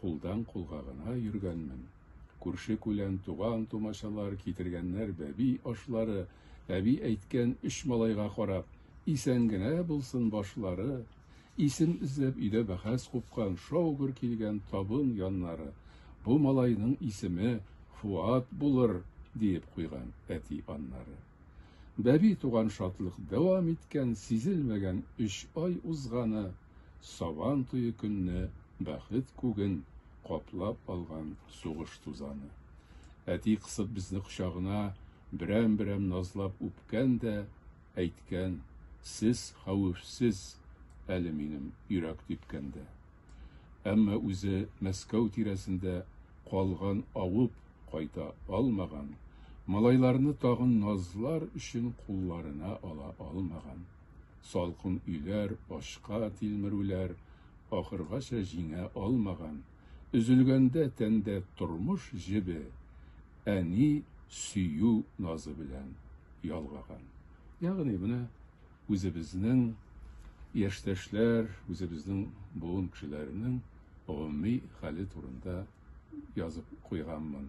Кулдан-кулга гына йөргәнмен. Күрше-күлән, туган-тумачалар китергәннәр бәби ашлары, әби әйткән өч малайга карап, исән генә булсын башлары, исем эзләп өйдә бәхәс купкан, шау-гөр килгән табын яннары, бу малайның исеме Фуат булыр, диеп куйган әти аннары. Бәби туган шатлык дәвам иткән, сизелмәгән өч ай узганы. Сабан туе көнне бәхет күген каплап алган сугыш тузаны. Әти кысып безне кочагына, берәм-берәм назлап үпкән дә әйткән, Сез хәвефсез әле минем йөрәк типкәндә. Әмма үзе Мәскәү тирәсендә калган авып кайта алмаган, малайларны тагын назлар өчен кулларына ала алмаган. Салкын өйләр, ачка тилмерүләр ахыргача җиңә алмаган. Өзелгәндә тәндә тормыш җебе, әни сөю назы белән ялгаган. Ягъни менә үзебезнең яшьтәшләр, үзебезнең буын кешеләренең гомуми хәле турында язып куйганмын.